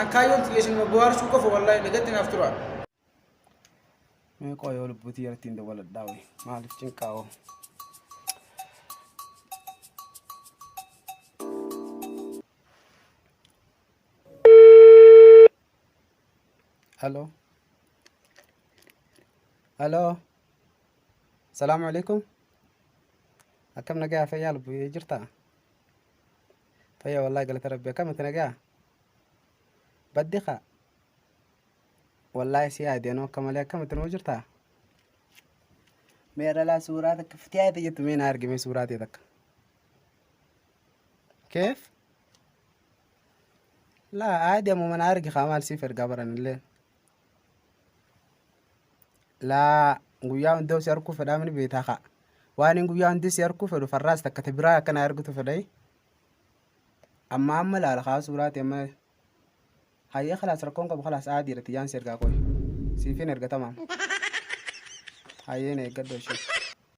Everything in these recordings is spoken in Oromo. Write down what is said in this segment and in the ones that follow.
An kaayyoon tiyya isinuma bohaarsuu qofa wallaahi nagatti naaf turaa. Mee qoy yoo lubbuutii yaratti hin dawwaladhaa wayi maaliif cinqaa hoo. Hello. Hello. Salaamu alaikum. Akkam nagaa fayyaa lubbuu jirtaa? Fayya wallahi galata rabbi akkamiti nagaa baddi kaa wallahi si yaade anoo akka malee akkamiti nuu jirtaa mee dhalaa suuraa takka fitiyaa ta'e jettu mee na argi mee suuraa ta'e takka keef laa aadi ammuma na argi kaa maal siif ergaa baranillee laa guyyaa hundaa si arguu fedhaa mini beetaa kaa waan hin guyyaa hundi si arguu fedhu farraas takka ta biraa akkana argutu fedhai amma amma laala kaa suuraati amma hayyee kalaas rakkoon qabu kalaas aadii irratti jaan si ergaa qoy siifin erga tamaam hayyeen eeggadhu ishee.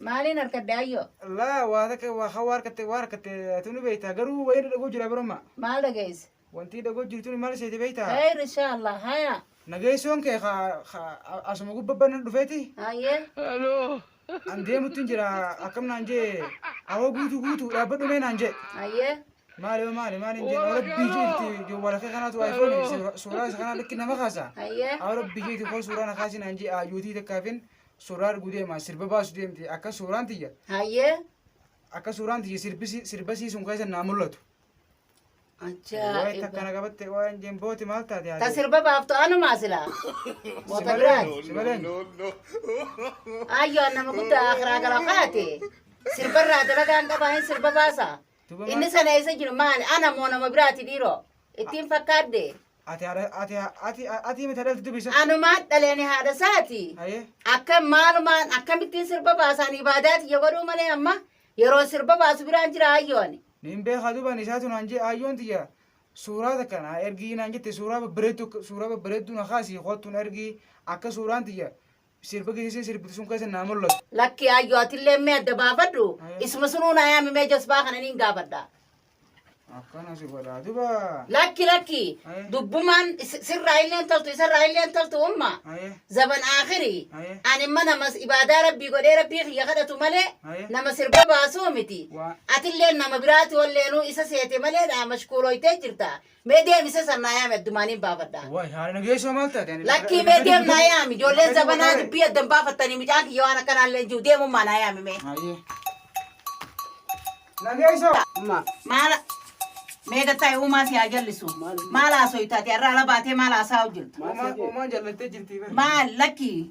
Maaliin harkadde ayyoo? Laa waa takka waa hawaa harkatte waa harkatte atu ni beektaa garuu wayii irra dhagoo jira baroma. Maal dhageesse? Wantii dhagoo jirtu ni maal seete beektaa? Khayr inshaa Allah hayaa. Nageessoon kee ka ka asuma gubbabban na dhufeeti Hayyee. an deemuttiin jira akkam naan jee awoo guutuu guutuu dhaabbadhu mee naan jee. Hayyee. Maali yoo maali maali hin jeen rabbii jeetti jawwaala kee kanaatu iPhone suuraa isa kanaa lakki nama kaasa. Hayyee. Awoo rabbii jeetti koo suuraa na kaasi naan jee ayyootii takkaafin Suuraa arguu deemaa sirba baasu deemte akka suuraan tiyya Hayyee. akka suuraan tiyya sirbisi- sirba siisuun keessa naa mul'atu. Waa'ee Ajaa'iba. takkana qabatte waa'een jembooti maal taate Ta haadha? sirba baaftu anumaa silaa. Moota biraati. Si malee? Ayyoo nama guddaa akiraa gara kaate. Sirbarraa dalagaan qabaa hin sirba baasa. Duba Inni maal- sana eessa jiru maali? Ana moo nama biraati dhiiroo? Ittiin fakkaadde. Ati haadha ati ati ati miti dhalti dubisa. Anumaan dhalee ani haadha isaati. Haye. Akka maalumaan akkamittiin sirba baasaan ibaadaa tiyya godhuu malee amma yeroon sirba baasu biraan jira hayyoo ani. Nin beeka duban isaatu naan jee hayyoon tiyya suuraa takka naa ergii naan jette suuraa babbareeddu suuraa babbareeddu na kaasii kottu na ergii akka suuraan tiyya Sirba geessee sirbitu sun keessa naa mul'atu. Lakki ayyoo atillee mee adda baafadhu. Isuma sunuu naa yaami mee jasbaa kana niin gaafadha. Akkana si godhaa duba. Lakki lakki Aye. dubbumaan is- sirraa illeen toltu isarraa illeen toltu umma. Aye. Zaban aakhirii Aye. ani imma nama ibaadaa rabbii godhee rabbii kiyya kadhatu malee Aye. nama sirba baasuu miti. Waa. Atillee nama biraati walleenuu isa seete malee naa mashkuulooytee jirta. Mee deemi isa san naa yaami addumaan hin baafadha. Waay haadha nageessoo maal taate? Ani Lakkii mee deem naa yaami ijoolleen zabanaa dubbii adda hin baafattanii mucaan kiyya waan akkanaa illee hin jiru deemummaa naa yaami mee. Hayyee. Nageessoo. Amma Maala mee gattaa uumaa si haa jallisu. Maala haasoo taate har'a ala baatee maala haasaa hojjettu. Uumaan uumaan jallattee jirti. Maal lakkii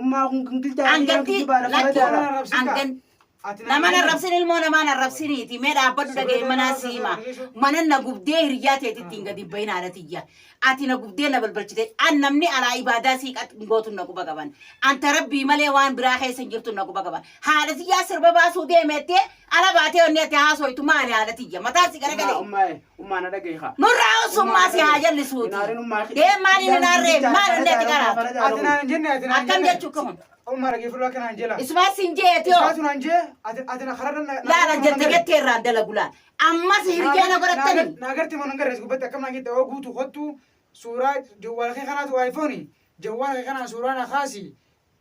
Ummaa kun gingilchaa Anganti Anganti kijibaa lafa lakki radaa Nama arrabsin kaa. angan Ati nama nama arrabsin ilmoo namaan arrabsiniiti mee dhaabbadhu Siree dhaga'e manaa danda'a siima sirreessu. manan na gubdee hiriyyaa teetti ittiin gadi bahin haadha tiyya ati na gubdee na balbalchite an namni alaa ibaadaa sii qat gootu na quba qaban anta rabbii malee waan biraa keessa hin jirtu na quba qaban haadha tiyyaa sirba baasuu deemeettee ala baatee onni ati haasoytu maali haadha tiyya mataan si Ummaa garagalee ummaa Ummaa na dhagahi kaa. Nurraa ussu ummaa si haa jallisuuti. Deem maaliin hin aarree maal onnee itti qaraatu. Ati naan jenne ati naan jenne. Akkam jechuu kun. Ummaa dhagee fudhu akka naan jela. Isumaa sin jeeti hoo. Isaatu naan jee ati ati na karaa na. Laala jette jettee irraan dalagu laal. Ammas hirjee na godhattani. Naagarti moo nan garrees gubbatti akkam naan jette oo guutu kottu suuraa jawwaala kee kanaatu iPhone jawwaala kee kanaan suuraa na kaasi